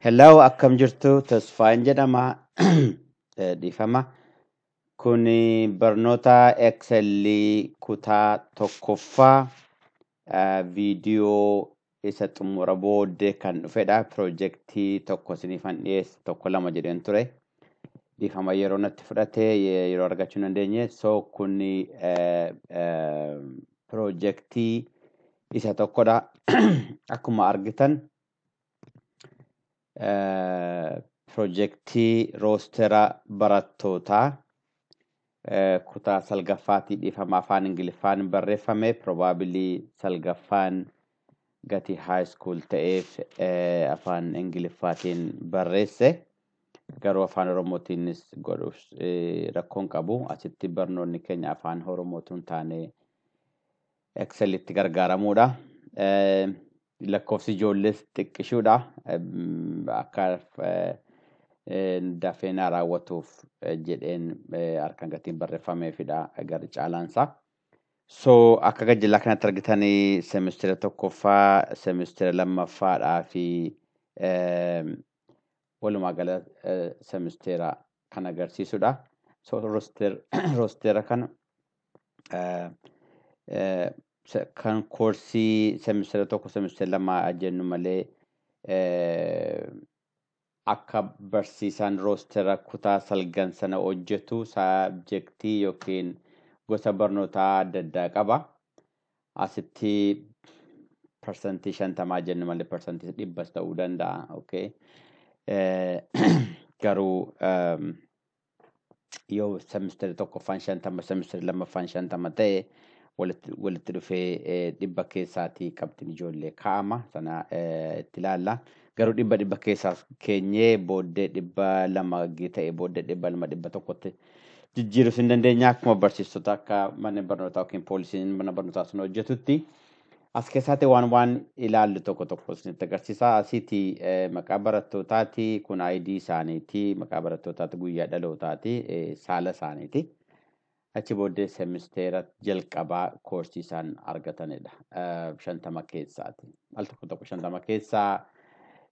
Hello, akkam jirtu? Tasfaayin jedhama. Eh, Dhiifama. Kun barnoota Excel kutaa tokkoffaa eh, viidiyoo isa xumura booddee kan dhufedha. Pirojektii tokko isiniifan dhiyeesse tokko lama jedheen ture. Dhiifama yeroo natti fudhate ye- yeroo argachuu hin dandeenye. So kun eh, eh, pirojektii isa tokkodha. Akkuma argitan pirojektii roostera barattootaa kutaa salgaffaatii dhiifama afaan ingiliffaan barreeffame piroobaabilii salgaffaan gatii haay iskuul ta'eef afaan ingiliffaatiin barreesse garuu afaan oromootiinis godhuuf rakkoon qabu asitti barnoonni keenya afaan oromootuun taanee Excel itti gargaaramuudha. Lakkoofsi ijoollees xiqqishuudha. Akka dafee naa raawwatuuf jedheen harkaan gatiin barreeffameefidha garri caalaansaa. So akka gajjallaa kanatti argitanii semistira tokkoffaa, semistira lammaffaadhaa fi walumaa gala semisteera kan agarsiisudha. So roosteera kana kan koorsii semisteera tokko semisteera lama jennu malee akka barsiisaan roosteera kutaa salgan sana hojjetu saabjektii yookiin gosa barnootaa adda addaa qaba. asitti parsantii shantamaa jennu malee parsantii dhibbas ta'uu danda'a. Okay. Garuu yoo semisteri tokkoffaan shantama semisteri lammaffaan shantama ta'e walitti dhufee dhibba keessaatii qabxiin ijoollee kaa'ama sana itti ilaalla. Garuu dhibba dhibba keessaas keenyee booddee dhibba lama ta'e booddee dhibba lama dhibba tokkotti jijjiirus hin dandeenya akkuma barsiistota akka manni barnootaa yookiin poolisiin mana barnootaa sun hojjetutti as keessaatti waan waan ilaallu tokko tokko isinitti agarsiisa asiiti eh, maqaa barattootaati kun ID isaaniiti maqaa barattootaati guyyaa dhalootaati eh, saala isaaniiti achi booddee semisteera jalqabaa koorsii isaan argatanidha eh, shantama keessaati al tokko tokko shantama keessaa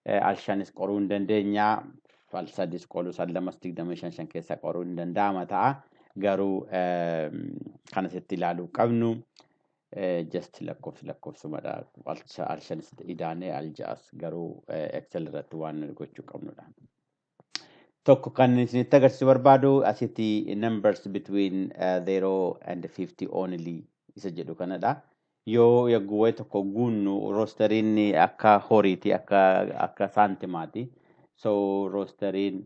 eh, al shanis qoruu hin dandeenya fal sadis qolu san lamas digdamii shan shan keessa qoruu hin danda'ama ta'a garuu kan asitti ilaaluu qabnu just lakkoofsi lakkoofsumadha al shanis idaanee al ja'as garuu excel irratti waan nuti gochuu qabnudha. Tokko kan isinitti agarsiisu barbaadu asitti numbers between uh, 0 and 50 only isa jedhu kanadha. Yoo yagguwwee tokko guunnu roosteriin akka horiiti akka akka saantimaati. So roosteriin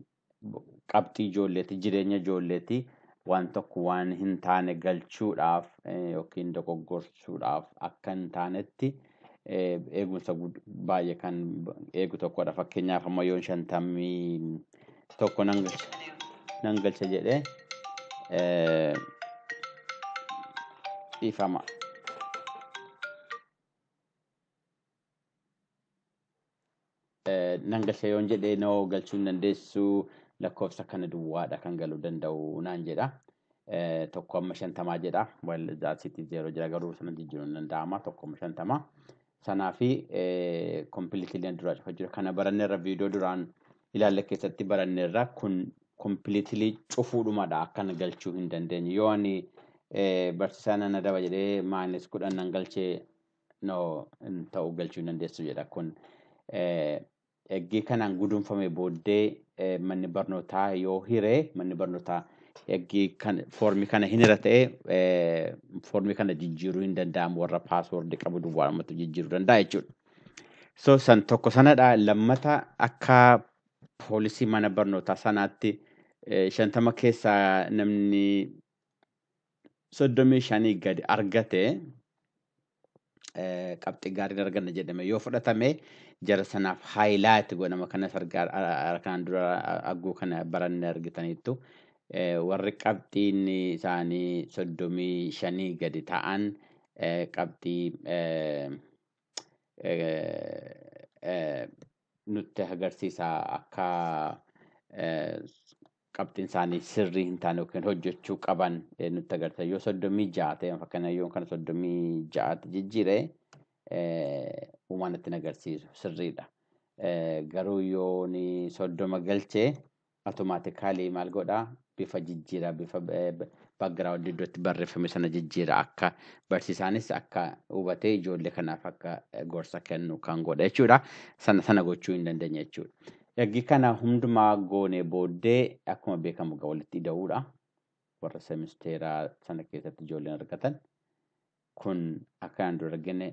qabxii ijoolleeti jireenya ijoolleeti waan tokko waan hin taane galchuudhaaf eh, yookiin dogoggorsuudhaaf akka hin taanetti eh, eegumsa gud- baay'ee kan eegu tokkodha. Fakkeenyaaf amma yoon shantamii tokko nan galcha nan galcha jedhee eh, dhiifama. Eh, nan galcha yoon jedhee noo galchuu hin dandeessu lakkoofsa kana duwwaadha kan galuu danda'u naan jedha. Eh, tokko amma shantamaa jedha. Well, that's it zero jira garuu sana jijjiiruun hin danda'ama tokko amma shantamaa. Sanaa fi kompiliitilii duraa cufa jira. Kana baranneerra viidiyoo duraan ilaalle keessatti baranneerra kun kompiliitilii cufuudhumadha akkan galchuu hin dandeenye. Yoo ani barsiisaa nan adaba jedhee maayinas kudhan nan galchee no hin ta'u galchuu hin dandeessu jedha kun Eggii kanaan gudunfame booddee manni barnootaa yoo hire manni barnootaa eggii kan foormii kana hin hira ta'e foormii kana jijjiiruu hin danda'amu warra paaswoordii qabu duwwaadhumatu jijjiiruu danda'a jechuudha. So san tokko sanadha lammata akka poolisii mana barnootaa sanaatti shantama keessaa namni soddomii shanii gadi argate eh, qabxii gaariin arganna jedhame yoo fudhatame jara sanaaf haayilaayiti godhama kanas argaa arkaan dura agguu kana baranne argitaniittu Eh, warri qabxiin isaanii soddomii shanii gadi ta'an eh, qabxii eh, eh, eh, nutti agarsiisa akka qabxiin isaanii sirrii hin taane yookiin hojjechuu qaban nutti agarsiisa. Yoo soddomii ja'a ta'e fakkeenyaaf yoo kana soddomii ja'atti jijjiire uumaa natti hin agarsiisu sirriidha. Garuu yoo soddoma galche automatically maal godha bifa jijjiira bifa background iddootti barreeffame sana jijjiira akka barsiisaanis akka hubatee ijoollee kanaaf akka gorsa kennu kan godha jechuudha. Sana sana gochuu hin dandeenye jechuudha. Ergi kana hundumaa goonee booddee akkuma beekamu egaa walitti ida'uudha. Warra semisteeraa sana keessatti ijoolleen argatan kun akka aan dura argine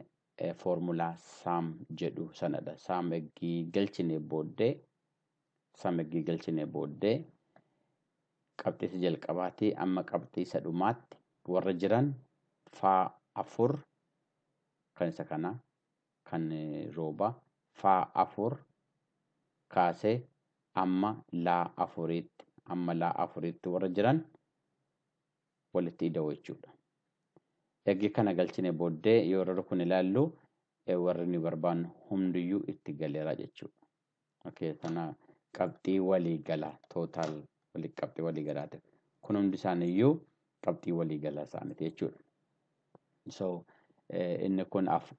foormulaa saam jedhu sanadha. Saam ergi galchine booddee Sum eggii galchinee booddee qabxii isa jalqabaatii amma qabxii isa dhumaatti warra jiran faa afur kan isa kana kan rooba faa afur kaasee amma laa afuriitti amma laa afuriitti warra jiran walitti ida'u jechuudha. Eggii kana galchine booddee yoo warra kun ilaallu warri nu barbaannu hundiyyuu itti galeera jechuudha. Okay, kana qabxii walii galaa total wali qabxii walii galaati. Kun hundi isaanii iyyuu qabxii walii galaa isaaniiti jechuudha. So eh, inni kun af-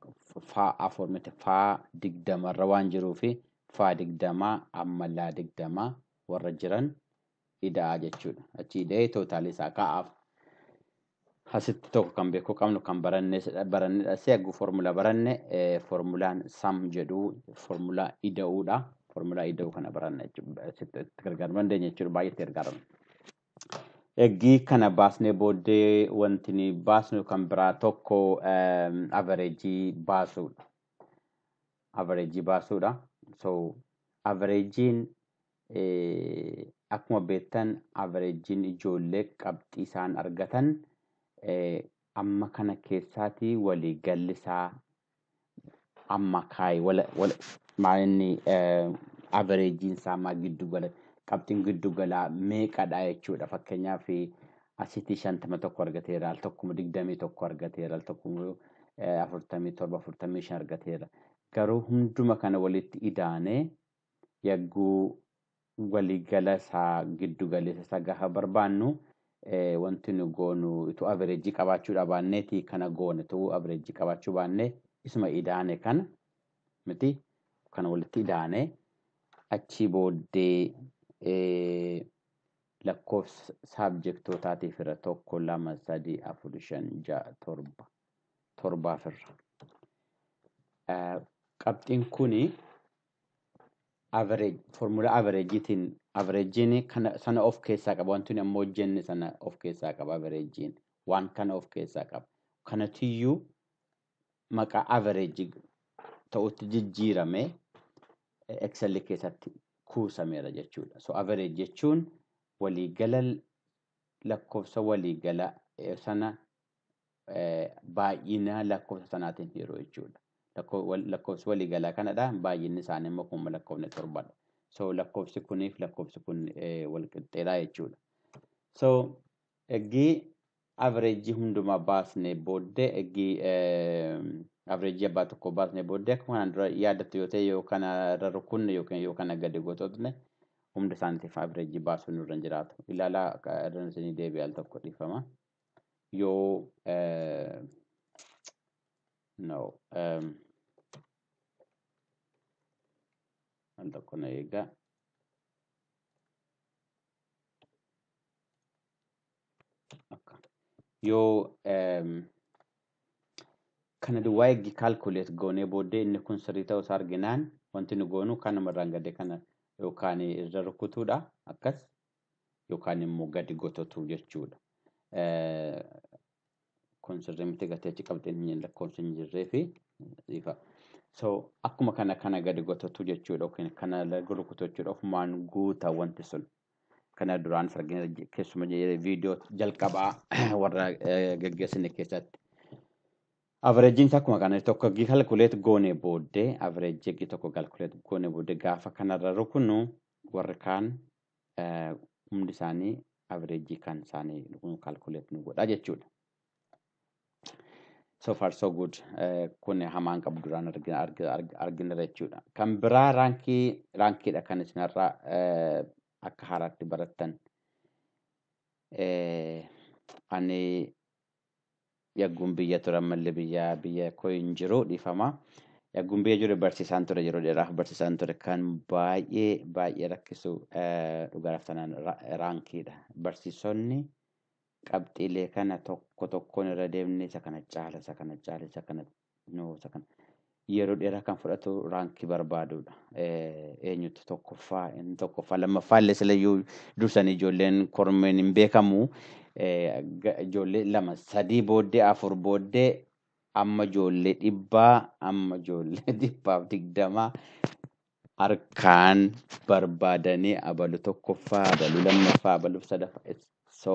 faa afur miti faa digdamarra waan jiruufi faa digdamaa ammallaa digdamaa warra jiran ida'a jechuudha. Achi ida'ee tootaalii isaa kaa'aaf. Asitti tokko kan beekuu qabnu kan barannedha. Seegu formula baranne formulaan sam jedhu formulaa ida'uudha. Formulaa ida'uu kana baranna jechuudha. Asitti gargaaruu dandeenya jechuudha. Baay'eetti gargaarama. Eggii kana baasnee booddee wanti ni baasnu kan biraa tokko avareejii baasuudha. Avareejii baasuudha. So avareejiin Akkuma beektan averejjiin ijoollee qabxii isaan argatan amma kana keessaati walii galli isaa amma kaa'e wala wala maalinni averejjiin isaa amma giddu gala qabxiin giddu galaa meeqadha jechuudha fakkeenyaaf asitti shantama tokko argateera al tokkuma digdamii tokko argateera al tokkuma afurtamii torba afurtamii shan argateera garuu hunduma kana walitti idaanee yagguu wali gala isaa giddu galeessa isaa gaafa barbaannu wanti nu goonu utuu averejii qabaachuu dhabaanneeti kana goone utuu averejii qabaachuu baanne isuma idaane kana miti kana walitti idaane achii booddee lakkoofsa saabjektootaatiif irra tokko lama sadii afur shan ja'a torba torbaaf irra qabxiin kuni average formula average tin average ni kana sana of keessaa qaba wanti amma hojjenne sana of keessaa qaba average waan kana of keessaa qaba kanatiyyuu maqaa average ta'utti jijjiirame excel keessatti kuusameera jechuudha so average jechuun waliigala lakkoofsa waliigala sana baay'ina lakkoofsa sanaatiin hiru jechuudha. Lakkoofsi waliigalaa kanadha. Baay'inni isaanii immoo kuma lakkoofne torbadha. So lakkoofsi kuniif lakkoofsi kun walqixxeedha jechuudha. So eggii averejii hundumaa baasnee booddee eggii averejii abbaa tokko baasnee booddee akkuma kanaan dura yaadattu yoo ta'e yoo kana irra rukunne yookiin yoo kana gadi gotootne hunda isaaniitiif averejii baasuun nurra hin jiraatu. Ilaalaa irra isinii deebi'e al tokko dhiifama. yoo no al tokko na eegaa akka yoo kana duwwaa eeggi kaalkuleet goonee booddee inni kun sirrii ta'uu isaa arginaan wanti nu goonu kanuma irraan gadee kana yookaan irra rukutuudha akkas yookaan immoo gadi gototu jechuudha. Kun sirrii miti gatii achi qabxeen lakkoofsi hin jirree fi ifa. So akkuma kana kana gadi gototu jechuudha yookiin kana laga rukutu jechuudha ofumaan guuta wanti sun. Kana duraan argina keessuma viidiyoo jalqabaa warra gaggeessine keessatti. Averejjiin isaa akkuma kana tokko eggii kalkuleet goone booddee averejjii eggii tokko kalkuleet goone booddee gaafa kanarra rukunu warri kaan humdi isaanii average kan isaanii kun calculate nu godha jechuudha. So far so good kun hamaan qabu duraan argineera jechuudha. Kan biraa raankii raankiidha kan isinirra akka haaraatti barattan. Ani Yagguun biyya ture ammallee biyya biyya koo hin jiru dhiifama. Yagguun biyya jiru barsiisaan ture yeroo dheeraaf barsiisaan ture kan baay'ee baay'ee rakkisu eh, dhugaadhaaf tanaan ra- raankiidha. Barsiisonni qabxiilee kana tokko tokkoon irra deemnee isa kana caala isa kana caala isa kana Namoota kana yeroo dheeraa kan fudhatu raankii barbaaduudha. Eenyutu tokkoffaa inni tokkoffaa lammaffaa illee silayyuu dursanii ijoolleen kormeen hin beekamu. Ijoollee lama sadii booddee afur booddee amma ijoollee dhibbaa amma ijoollee dhibbaaf digdamaa harkaan barbaadanii abalu tokkoffaa abalu lammaffaa abalu sadaffaa so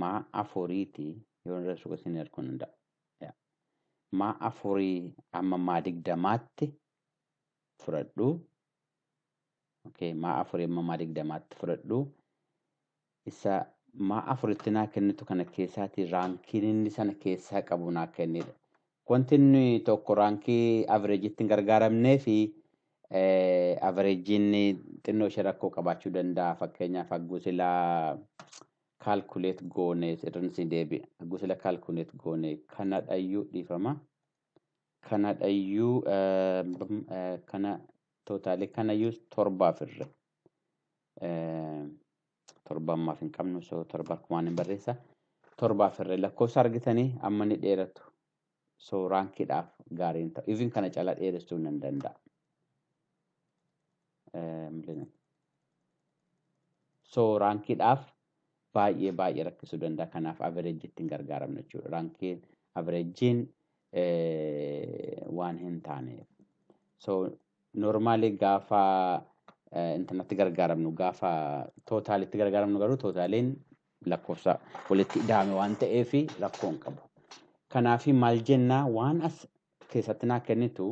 maa afuriiti yoo irra suqa isin erguu nan da maa afurii amma maa digdamaatti fudhadhu okay maa afurii amma maa digdamaatti fudhadhu isa maa afuritti naa kennitu kana keessaati raankiin inni sana keessaa qabu naa kennidha wanti inni tokko raankii averejjitti hin gargaaramnee fi averejjiin xinnoo ishee rakkoo qabaachuu danda'a fakkeenyaaf hagguu silaa calculate goone irran isin deebi'a. Hagguu sila calculate goone kanadhayyuu dhiifama. Kanadhayyuu kana tootaalee kanayyuu torbaaf irra. Torba ammaaf hin qabnu so torba akkumaan hin barreessa. Torbaaf irra lakkoofsa argitanii amma ni dheeratu. so raankiidhaaf gaarii hin ta'u even kana cala dheeressuu nan danda'a so raankiidhaaf baay'ee baay'ee rakkisuu danda'a kanaaf averejjiitti hin gargaaramne jechuudha raankiin averejjiin waan hin taaneef so normaalii gaafa intanatti gargaaramnu gaafa tootaalitti gargaaramnu garuu tootaaliin lakkoofsa walitti ida'ame waan ta'eef rakkoo hin qabu. Kanaaf maal jennaa waan as keessatti naa kennitu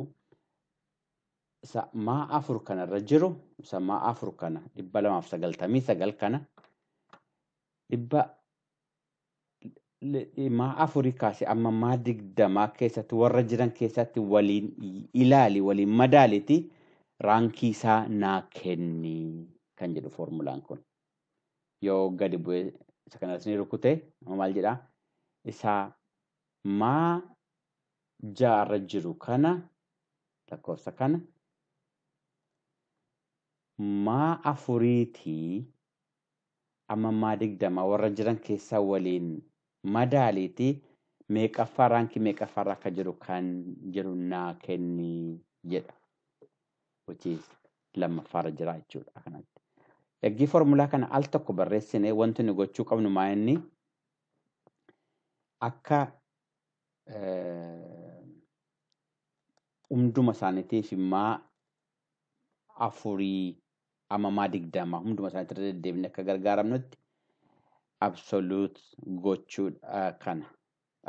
isa maa afur kana irra jiru isa maa afur kana dhibba lamaaf sagaltamii sagal kana dhibba maa afurii kaasee amma maa digdamaa keessatti warra jiran keessatti waliin ilaali waliin madaaliti raankii isaa naa kenni kan jedhu foormulaan kun. yoo gadi bu'ee isa kanas ni rukute amma maal jedha isa maa ja'a irra jiru kana lakkoofsa kana maa afuriitii amma maa digdama warra jiran keessaa waliin madaaliitii meeqaffaa raankii meeqaffaarra akka jiru kan jedhu naa kenni jedha. which is lammaffaarra jira jechuudha akkanatti. Eggii formulaa kana al tokko barreessine wanti nu gochuu qabnu maa inni akka hunduma isaaniitiif immaa afurii amamaa digdama hunduma isaaniitti irra deddeebine akka gargaaramnutti absolute gochuudha kana.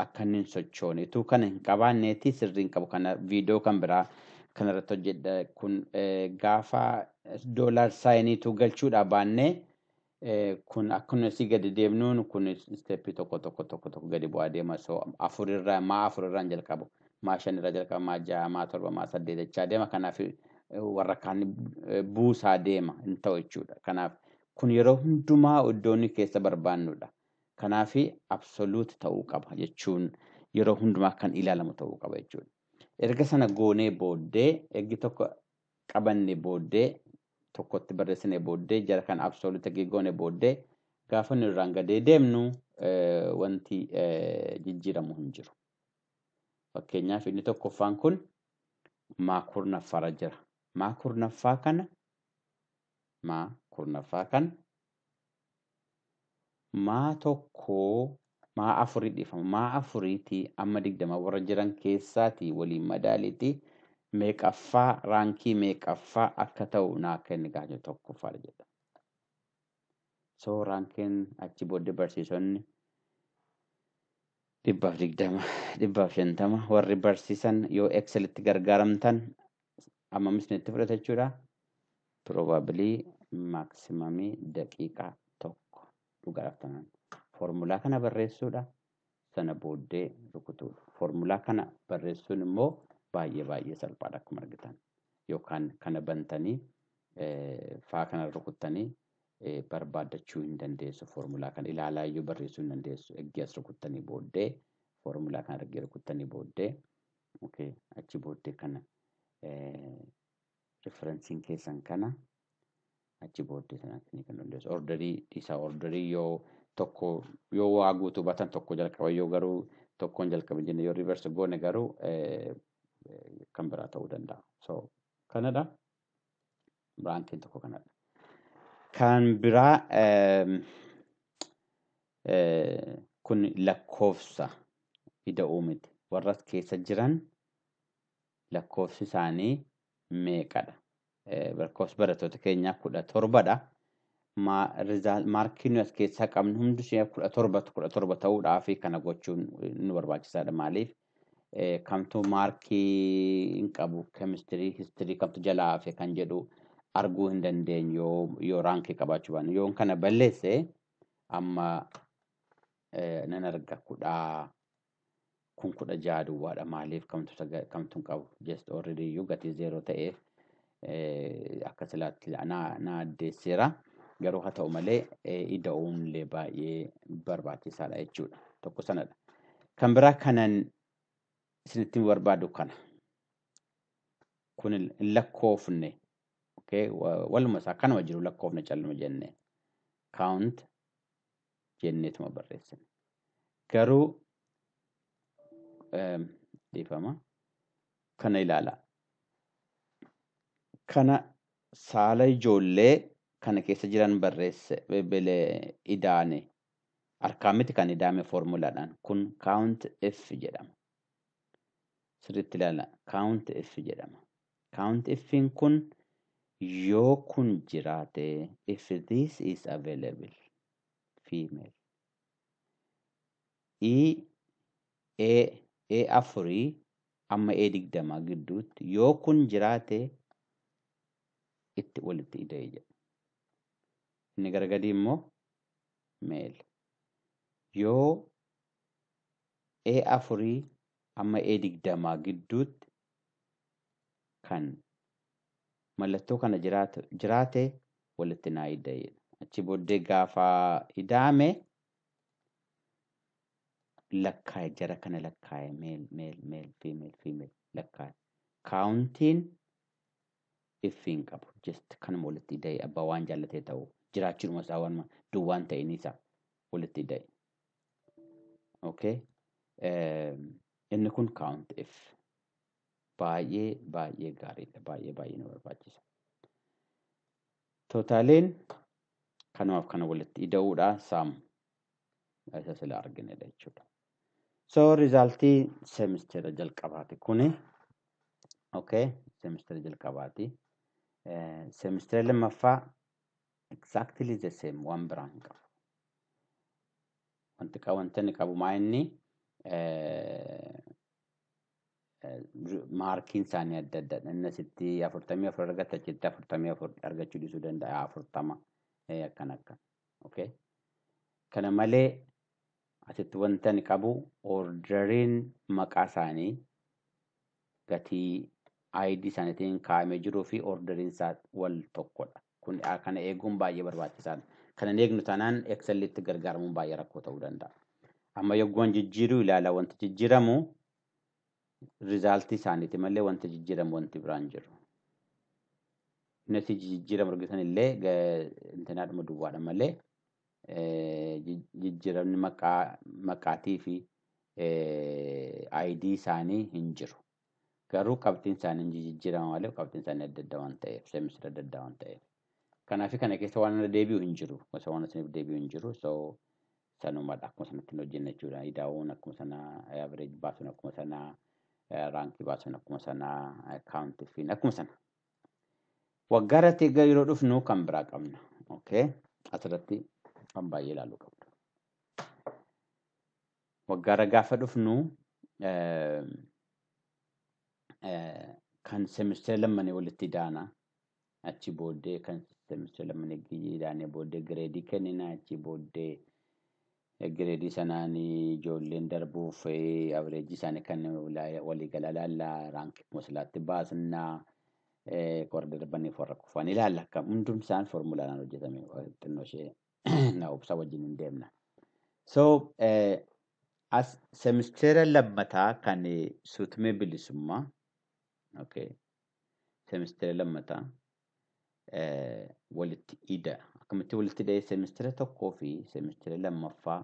akka inni hin sochoone utuu kana hin qabaanneeti sirrii hin qabu kana viidiyoo kan biraa kana irratti hojjedha kun eh, gaafa doolaar saayiniitu galchuudha baannee eh, kun akkuma asii gadi deemnuun kun isteeppii tokko tokko tokko tokko gadi bu'aa deema so afur irraa maa afur irraa hin jalqabu maa shan irraa jalqaba maa ja'a maa torba maa saddeet jechaa deema kanaaf eh, warra kaan eh, buusaa deema hin ta'u jechuudha kanaaf kun yeroo hundumaa iddoonni keessa barbaannudha. Kanaafi absolute ta'uu qaba jechuun yeroo hundumaa kan ilaalamu ta'uu qaba jechuudha. Erga sana goonee booddee ergi tokko qabanne booddee tokkotti barreessine booddee jara kan absolute ergi goone booddee gaafa nu irraan gadee deemnu wanti jijjiiramu hin jiru. Fakkeenyaaf inni tokkoffaan kun maa kurnaffaarra jira. Maa kurnaffaa kana maa kurnaffaa kana maa tokkoo maa afurii dhifama maa afurii tii amma digdama warra jiran keessaa tii waliin madaalii tii meeqaffaa raankii meeqaffaa akka ta'u naa kenni gaafachuu tokkoffaa dha jedha so raankiin achi booddee barsiisonni dhibbaaf digdama, dhibbaaf shantama warri barsiisan yoo Excel itti gargaaramtan hammam isinitti fudhata jechuudha. Probably maximum daqiiqaa tokko dhugaa raftanan. Formulaa kana barreessuudha. Sana booddee rukutuudha. Formulaa kana barreessuun immoo baay'ee baay'ee salphaadha akkuma argitan. Yookaan kana bantanii eh, faa kana rukuttanii barbaaddachuu hin dandeessu foormulaa kana ilaalaa iyyuu barreessuu hin dandeessu eggee as rukuttanii booddee foormulaa kana ergee rukuttanii booddee okay achi booddee kana riferensiin keessan kana achi booddee sana isinii kan dandeessu orderii dhiisaa orderii yoo tokko yoo waa guutuu batan tokko jalqaba yoo garuu tokkoon jalqaba jenne yoo riverse goone garuu kan biraa ta'uu danda'a so kanadha. Baankiin tokko kanadha. Kan biraa kun lakkoofsa ida'uu miti. Warra as keessa jiran lakkoofsi isaanii meeqadha? Lakkoofsi barattoota keenyaa kudha torbadha. Maarkiin as keessaa qabnu hundi ishee kudha torbatu kudha torba ta'uudhaaf kana gochuun nu barbaachisaadha. Maaliif eh, kamtu maarkii hin qabu kemistirii histirii kamtu jalaa hafe kan jedhu arguu hin dandeenyu yoo, yoo raankii qabaachuu baanne yoon kana balleesse amma eh, nan arga kudhaa kun kudha jaha duwwaadha maaliif kamtu saga- kamtu hin qabu just already iyyuu gatii zeeroo ta'eef akka silaatti na addeesseera. Garuu haa ta'u malee ida'uun illee baay'ee barbaachisaadha jechuudha. Tokko sanadha. Kan biraa kanan isinitti barbaadu kana. Kun hin lakkoofne. Waluma isaa kanuma jiru lakkoofne calluma jenne. Count jenneetuma barreessina. Garuu dhiifama kana ilaalaa. Kana saala ijoollee kana keessa jiran barreesse bele idaane harkaan miti kan idaame foormulaadhaan kun count f jedhama. sirriitti ilaala count if jedhama count iffiin kun yoo kun jiraate if this is available female i e e afurii amma e digdama gidduutti yoo kun jiraate itti walitti ida'e jedha inni gara gadii immoo male yoo E afurii amma E digdamaa gidduutti kan mallattoo kana jiraatu jiraate walitti naa ida'e. Achi booddee gaafa ida'ame lakkaa'e jara kana lakkaa'e meel meel meel fiimeel fiimeel lakkaa'e. Kaawuntiin iffi hin qabu. Just kanuma walitti ida'e abbaa waan jaallatee ta'u jiraachuudhuma isaa waan duwwaan ta'in isaa walitti ida'e. okay inni kun count f baay'ee baay'ee gaariidha baay'ee baay'ee nu barbaachisa totaaleen kanumaaf kana walitti ida'uudha saam isa sila arginedha jechuudha so rizaaltii semistera jalqabaati kuni okay semistera jalqabaati semistera lammaffaa Exactly the same waan biraa hin qabu. Wanti qa- wanti inni qabu maa inni eh, eh, maarkiin isaanii adda addaadha. Inni asitti afurtamii afur argata achitti afurtamii afur argachuu dhiisuu danda'a afurtama eh, akkan akkan. Okay. Kana malee asitti wanti ani qabu orderiin maqaa isaanii gatii ID isaaniitiin kaa'amee jiruu fi orderiin isaa wal tokkodha. Kun kana eeguun baay'ee barbaachisaadha. Kana hin eegnu taanaan Excel'tti gargaaramuun baay'ee rakkoo ta'uu danda'a. Amma yogguwan jijjiiruu ilaala wanti jijjiiramu rizaaltii isaaniiti malee wanti jijjiiramu wanti biraan jiru. Yuunitii jijjiiramu argitan illee intinaadhuma duwwaadha malee jijjiiramni maqaa maqaatii fi ayidii isaanii hin jiru. Garuu qabxiin isaanii hin jijijjiirama malee qabxiin isaanii adda adda waan ta'eef seemistira adda addaa waan ta'eef. Kanaafi kana keessa waan irra deebi'u hin jiru. Gosa waan isiniif deebi'u hin jiru. So sanumadha akkuma sanatti hin hojjenna jechuudha. Idaa'uun akkuma sana average baasuun akkuma sana raankii baasuun akkuma sana kaawunti fiin akkuma sana. Waggaa irratti egaa yeroo dhufnu kan biraa qabna. Okay. Asirratti kan baay'ee ilaaluu qabdu. Waggaarra gaafa dhufnu kan semistira lammanii walitti idaana. Achi booddee kan semistira lammanii idaanee booddee gireedii kennina. Achi booddee gireedii sanaan ijoolleen darbuuf averejii isaanii kan waliigalaa ilaalla. Raankii mooslaatti baasna. Warra darbaniif warra kufan ilaalla. Kan hundumsaan foormulaadhaan hojjetame xinnoo ishee na obsa wajjin hin deemna. So eh, as semisteera lammataa kan eh, suutumee bilisummaa okay. semisteera lammataa eh, walitti ida akkamitti walitti ida'ee semisteera tokkoo fi semisteera lammaffaa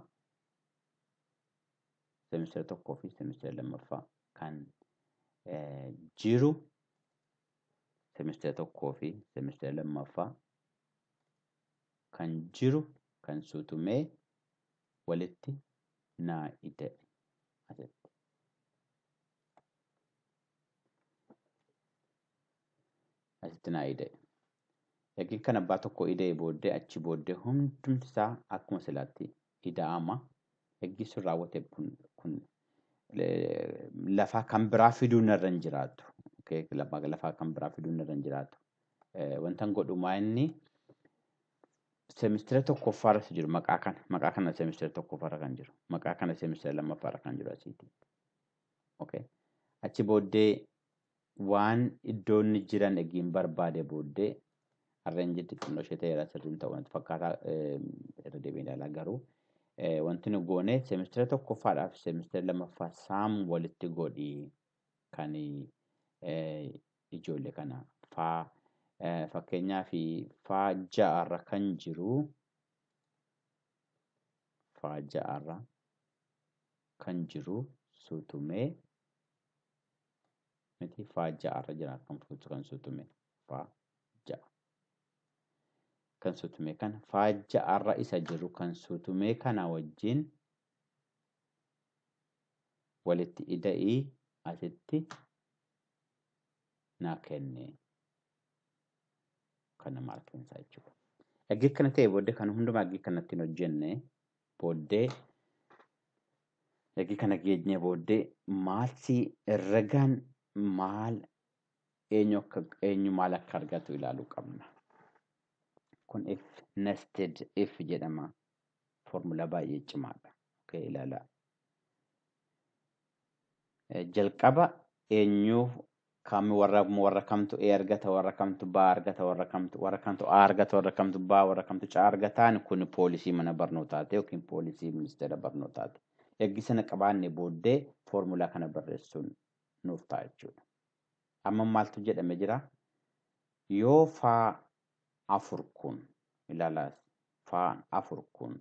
semisteera tokkoo fi semisteera lammaffaa kan eh, jiru semisteera tokkoo fi semisteera lammaffaa kan jiru kan suutumee walitti naa ida'e asitti. asitti naa ida'e. Erga kan abbaa tokko ida'e booddee achi booddee hundumti isaa akkuma silaatti ida'ama gaggeessuun raawwate kun kun lafaa kan biraa fiduun irra hin jiraatu. Okay, lafa- Lafaa kan biraa fiduun irra hin jiraatu. Eh, Wantan godhu maa inni seemistira tokkoffaa irratti jiru maqaa kana maqaa kana seemistira tokkoffaa irra kan jiru maqaa kana seemistira lammaffaa irra kan jiru asiiti. Okay. Achi booddee waan iddoo inni jiran egiin barbaade booddee harreen jirti xinnoo ishee ta'eera sirriin ta'uu natti fakkaataa irra deebiin ilaalaa garuu wanti nu goone seemistira tokkoffaadhaaf seemistira lammaffaa saam walitti godhi kan ijoollee kana faa fakkeenyaa fi faa ja'arra kan jiru faa ja'arra kan jiru suutumee miti faa ja'a irra jira kan fuutu kan sutume faa ja'a kan sutume kana faa ja'a irra isa jiru kan sutume kana wajjin walitti ida'ii asitti naa kenne kana maarkiinsaa jechuudha. Egaa kana ta'e booddee kan hundumaa egaa kanatti hin hojjenne booddee ergi kana geenyee booddee maalsi ragaan maal eenyu akka eenyu maal akka argatu ilaaluu qabna. Kun if nested if jedhama. Foormulaa baay'ee cimaadha. Okay, ilaalaa. Eh, Jalqaba eenyuuf Kam warra warra kamtu A argata warra kamtu B argata warra kamtu warra kamtu A argata warra kamtu B warra kamtu C argataan kun poolisii mana barnootaati yookiin poolisii ministeera barnootaati. Ergi sana qabaanne booddee foormulaa kana barreessuun nuuf ta'a jechuudha. Amma maaltu jedhame jira? Yoo faa afur kun ilaalaas faan afur kun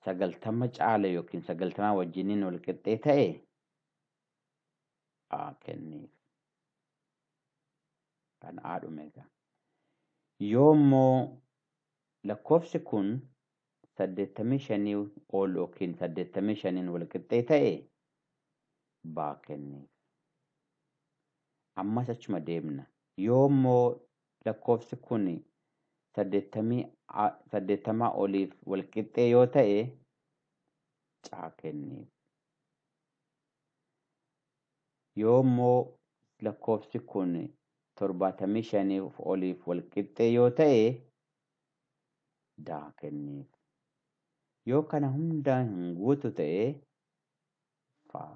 sagaltama caale yookiin sagaltamaa wajjiniin wal qixxee ta'e A kenniif. Kan A dhume egaa. Yoo immoo lakkoofsi kun saddeettamii shanii ol yookiin saddeettamii shaniin wal qixxee ta'e B kenniif. Ammas achuma deemna. Yoo immoo lakkoofsi kun 80 oliif walqixxee yoo ta'e caa kenniif. Yoo immoo lakkoofsi kun 75 oliif walqixxee yoo ta'e daa kenniif. Yoo kana hundaa hin guutu ta'e faa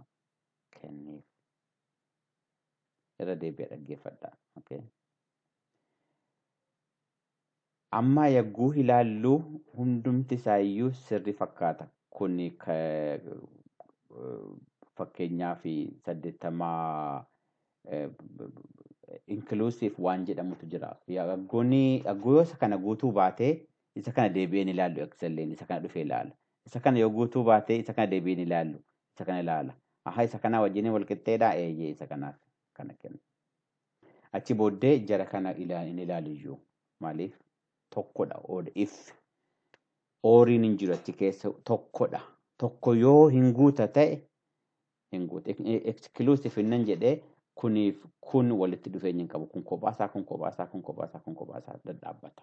kenniif. irra deebi'a dhaggeeffadha. Okay. Ammaa yagguu ilaallu hundumti isaa iyyuu sirri fakkaata. Kun fakkeenyaa fi saddeettamaa inclusive waan jedhamutu jira. Yaggoon yaggoo yoo isa kana guutuu baate isa kana deebi'een ilaallu excelleen isa kana dhufee ilaala. Isa kana yoo guutuu baate isa kana deebiin ilaallu. Isa kana ilaala. Aha isa kanaa wajjin wal qixxeedhaa eeyyee isa kanaaf kana kenna. Achi booddee jara kana ilaa- hin ilaalu iyyuu. Maaliif? Tokkodha. Ood if. Ooriin hin jiru achi keessa tokkodha. Tokko yoo hin guuta ta'e hin guuta. Exclusive innan jedhee kuniif kun walitti dhufeenya hin qabu. Kun kophaasaa kun kophaasaa kun kophaasaa kun kophaasaa dhadhaabbata.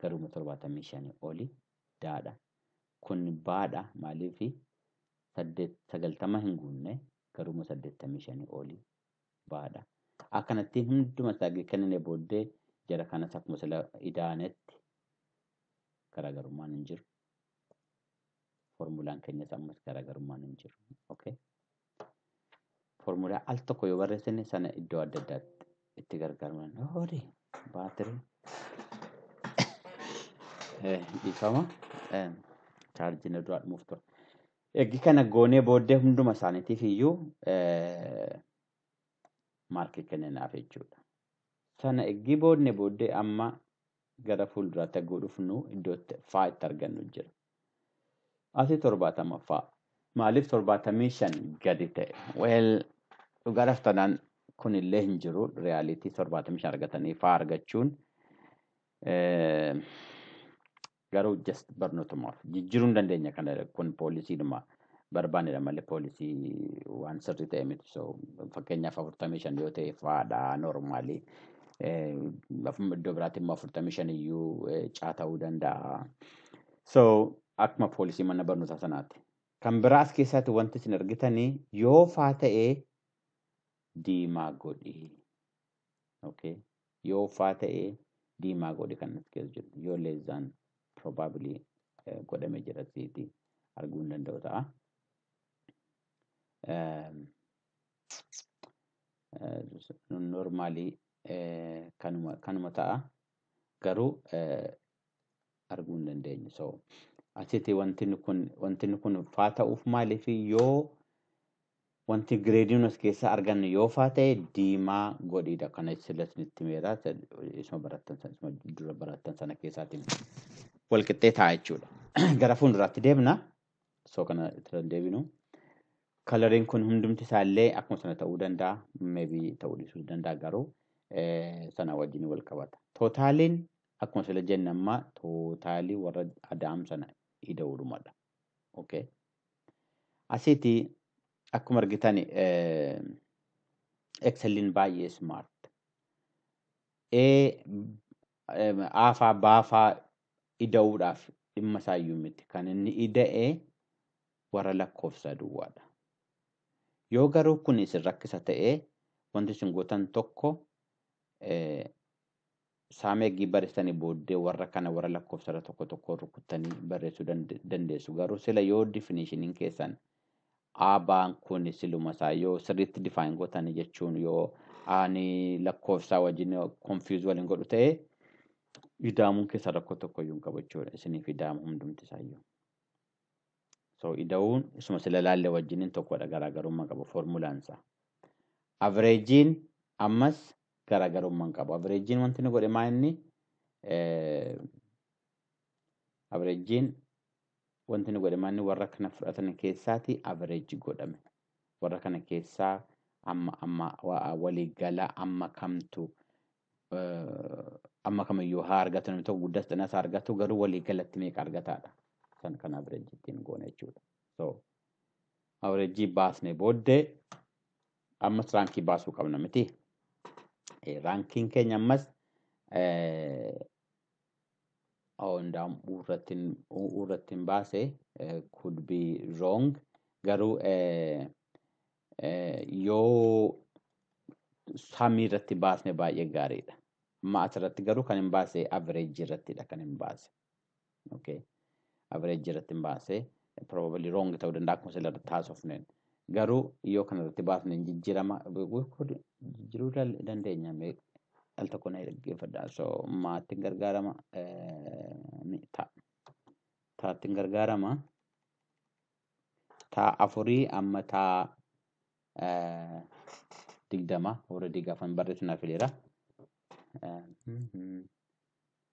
garuma 75 oli daadha kun baadha maaliif 90 hin guunne garuma 85 oli baadha akkanatti hunduma isaa kennine booddee jara kanas akkuma sila idaanetti garaagarummaan hin jiru. Formulaan keenyas ammas garaagarummaan hin jiru. Okay. Foormulaa al tokko yoo barreessine sana iddoo adda addaatti itti gargaaraman. Horii baatirii dhiifama chaarjii na duraa dhumuuf ture. Eegii kana goonee booddee hunduma isaaniitiif iyyuu maarkii kenninaaf jechuudha. Sana eegii boodne booddee amma gara fuulduraatti hagguu dhufnu iddoo itti faa itti argannu jira. Asii torbaatamaffaa. Maaliif torbaatamii shan gadi ta'e? Weel dhugaa raftanaan kun illee hin jiru riyaaliitii torbaatamii shan argatanii faa argachuun garuu just barnootumaaf jijjiiruu hin dandeenya kana kun poolisiidhuma barbaanedha malee poolisii waan sirrii ta'e miti. So fakkeenyaaf afurtamii shan yoo ta'e fa'aadha noormaalii. Iddoo biraatti immoo afurtamii shan iyyuu caa ta'uu danda'a. So akkuma poolisii mana barnootaa sanaati. Kan biraa as keessaatti wanti isin argitanii yoo faa ta'e diimaa godhi. okay yoo faa ta'e diimaa godhi kan as keessa jiru yoo less than probably eh, godhame jira siiti arguu hin danda'u ta'a. Ehm, eh, normally eh, kanuma kanuma ta'a garuu eh, arguu hin dandeenyu. So, asitti wanti kun wanti kun faa ta'uuf maaliif yoo wanti gireediin as keessaa argannu yoo faa ta'e diimaa godhiidha. Kana sila isinitti meera isuma barattan sana isuma dura barattan sana keessaatiin wal qixxee ta'a jechuudha. Gara fuulduraatti deemna. So kana irra deebinu. Kalariin kun hundumti isaallee akkuma sana ta'uu danda'a. Meebii ta'uu dhiisuu danda'a garuu sana wajjin wal qabata. Tootaaliin Akkuma sila jenne amma tootaalii warra adaam sana ida'uudhumadha. Okay. Asiiti akkuma argitan Excelin baay'ee smart. A aafaa baafaa ida'uudhaaf dhimma isaayyuu miti. Kan inni ida'e warra lakkoofsa duwwaadha. Yoo garuu kun isin rakkisa ta'e wanti isin gootan tokko Saame eggii baristani booddee warra kana warra lakkoofsarra tokko tokko rukuttanii barreessuu dand- dandeessu. Garuu sila yoo definitionin keessan aabaan kun siluma isaa yoo sirriitti define gootanii jechuun yoo ani lakkoofsaa wajjin confuse waliin godhu ta'e idaamuun keessan rakkoo tokko iyyuu hin qabu jechuudha. Isiniif idaamu hundumti isaa iyyuu. So ida'uun isuma sila laalle wajjiniin tokkodha garaagarummaa qabu formulaan isaa. Avreejiin ammas garaagarummaa hin qabu. Averejjiin wanti inni godhe maa inni averejjiin wanti inni godhe maa inni warra kana fudhatan keessaati averejji godhame. Warra kana keessaa amma amma waliigala amma kamtu amma kamiyyuu haa argatu namni tokko guddas xinas haa argatu garuu waliigalatti meeqa argataadha. San kan averejji ittiin goone jechuudha. So averejjii baasne booddee Ammas raankii baasuu qabna miti. Eh, Raankiin keenya ammas eh, oh, indaam irratti hin- u- u irratti hin baase eh, could be wrong garuu eh, eh, yoo samii irratti baasne baay'ee gaariidha. Amma asirratti garuu kan hin baase average irrattidha kan hin baase. Okay. Average irratti hin baasee probably wrong ta'uu danda'a akkuma sila irratti haasofneen. Garuu yoo kana irratti baasne hin jijjiirama jijjiiruu dal- dandeenya mee al tokko na dhaggeeffadha. So maattiin gargaarama eh, ni ta'a. Taattiin gargaarama ta'a afurii amma ta'a eh, digdama warra digaafan barreessuun hafeera. Eh, mhm.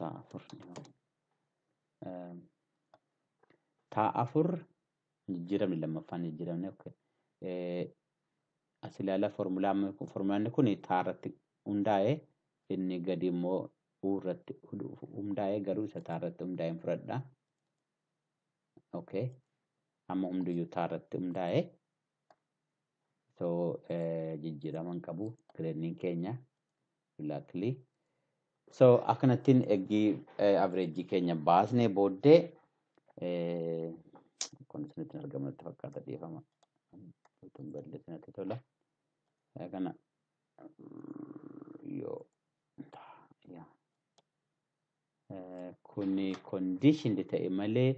taa afur taa afur jijjiiramni lammaffaan jijjiiramni okay. as ilaala formulaan kun taa irratti hundaa'e inni gadi immoo u irratti hundaa'e garuu isa taa irratti hundaa'e hin fudhadha. Okay. Amma hundiyyuu taa irratti hundaa'e so jijjiiraman qabu gireedniin keenya Luckily. So akkanattiin eggii average keenya baasnee booddee eh, kun isinitti hin argamu natti fakkaata dhiifama. Utuu hin balleessin natti tola. Eh, Kana mm, yoo yaa. Eh, kuni conditioned ta'e malee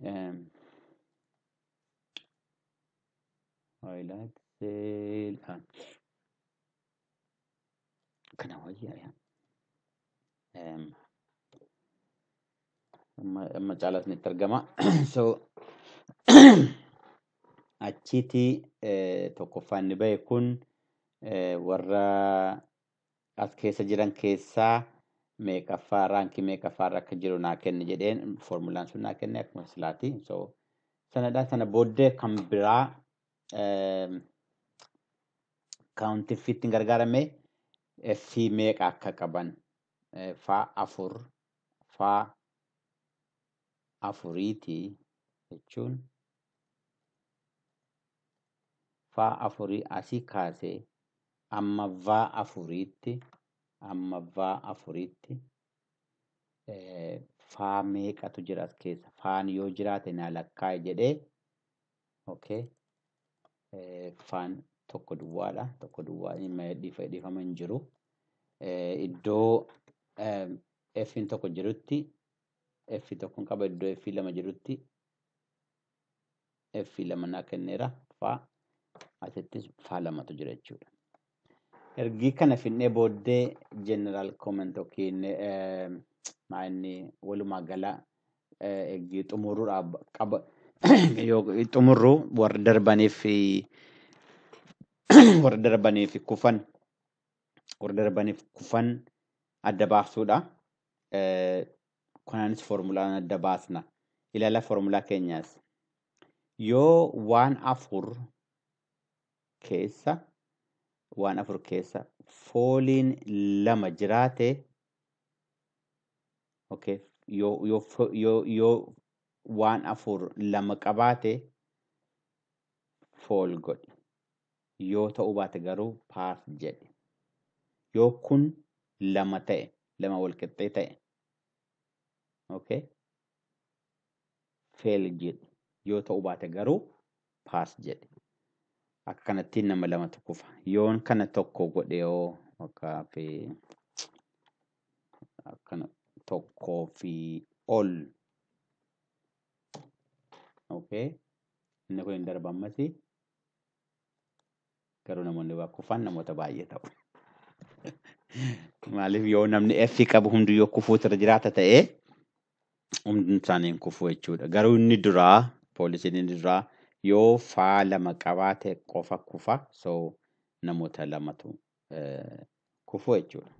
em, Highlight sale ah. Kana wayyaa yaa. Em, Amma amma caalaa isinitti argama. So achiiti eh, tokkoffaan inni bahe kun eh, warra as keessa jiran keessaa meeqaffaa raankii meeqaffaarra akka jiru naa kenni jedheen foormulaan sun naa kenne akkuma silaati so sanadha sana booddee kan biraa kaawuntii fiittiin gargaarame fi meeqa akka qaban eh, faa afur faa afuriiti jechuun faa afurii asii kaasee Amma va afuriitti Amma va afuriitti faa meeqatu jira as keessa faan yoo jiraate naa lakkaa'i jedhee okay faan tokko duwwaadha tokko duwwaa dhiifama hin jiru iddoo f'n tokko jirutti f tokkon qaba iddoo f lama jirutti F lama naa kenneera faa asittis faa lamatu jira jechuudha. Ergii kana finnee booddee general comment yookiin maa inni walumaa gala ergii xumurruudha qaba xumurru warra darbaniif warra darbaniif kufan warra darbaniif kufan adda baaftuudha. kanaanis foormulaan adda baasna ilala foormulaa keenyaas yoo waan afur keessa waan afur keessa fooliin lama jiraate okay, yoo, yoo, fo- yoo, yoo waan afur lama qabaate fool godhi Yoo ta'uu baate garuu path jedhi. Yoo kun lama ta'e, lama walqixxee ta'e, okay? fail jedhi. Yoo ta'uu baate garuu pass jedhi. Akka kanattiin nama lamatu kufa. Yoon kana tokko godhe yoo fakkaaf akkana tokkoo fi ol. Okay? Inni kun hin darba ammasi. Garuu namoonni waa kufaan namoota baay'ee ta'u. Maaliif yoo namni F qabu hundi yoo kufuutu irra jiraata ta'ee hundi isaanii hin kufu jechuudha. Garuu inni duraa poolisiin inni duraa yoo faa lama qabaate qofa kufa so namoota lamatu eh, kufu jechuudha.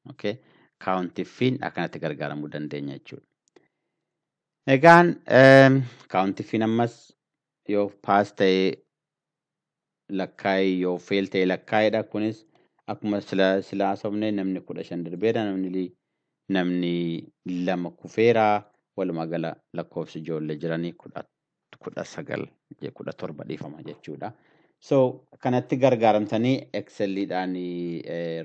Okay. Kaawuntiffiin akkanatti gargaaramuu dandeenya jechuudha. Egaan kaawuntiffiin ammas Yoof pass ta'e lakkaa'i yoof fail ta'e lakkaa'idha. Kunis akkuma sila sila haasofne namni kudha shan darbeera namni li- namni lama kufeera walumaa gala lakkoofsi ijoollee jiranii kudha kudha sagal je- kudha torba dhiifama jechuudha. So kanatti gargaaramtanii excelidhaan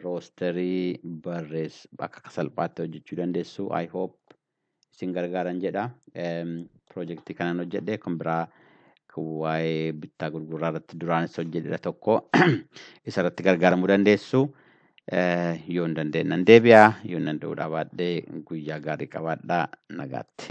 roosterii barreess akka salphaatti hojjechuu dandeessu. I hope isin gargaaran jedha. Piroojeektii kanan hojjedhe kan biraa kan waa'ee bittaa gurguraa irratti duraanis hojjedhedha tokko isa irratti gargaaramuu dandeessu. Eh, Yoo hin dandeenye nan deebi'a, yoo hin danda'uu dhabaadhe guyyaa gaarii qabaadhaa nagaatti.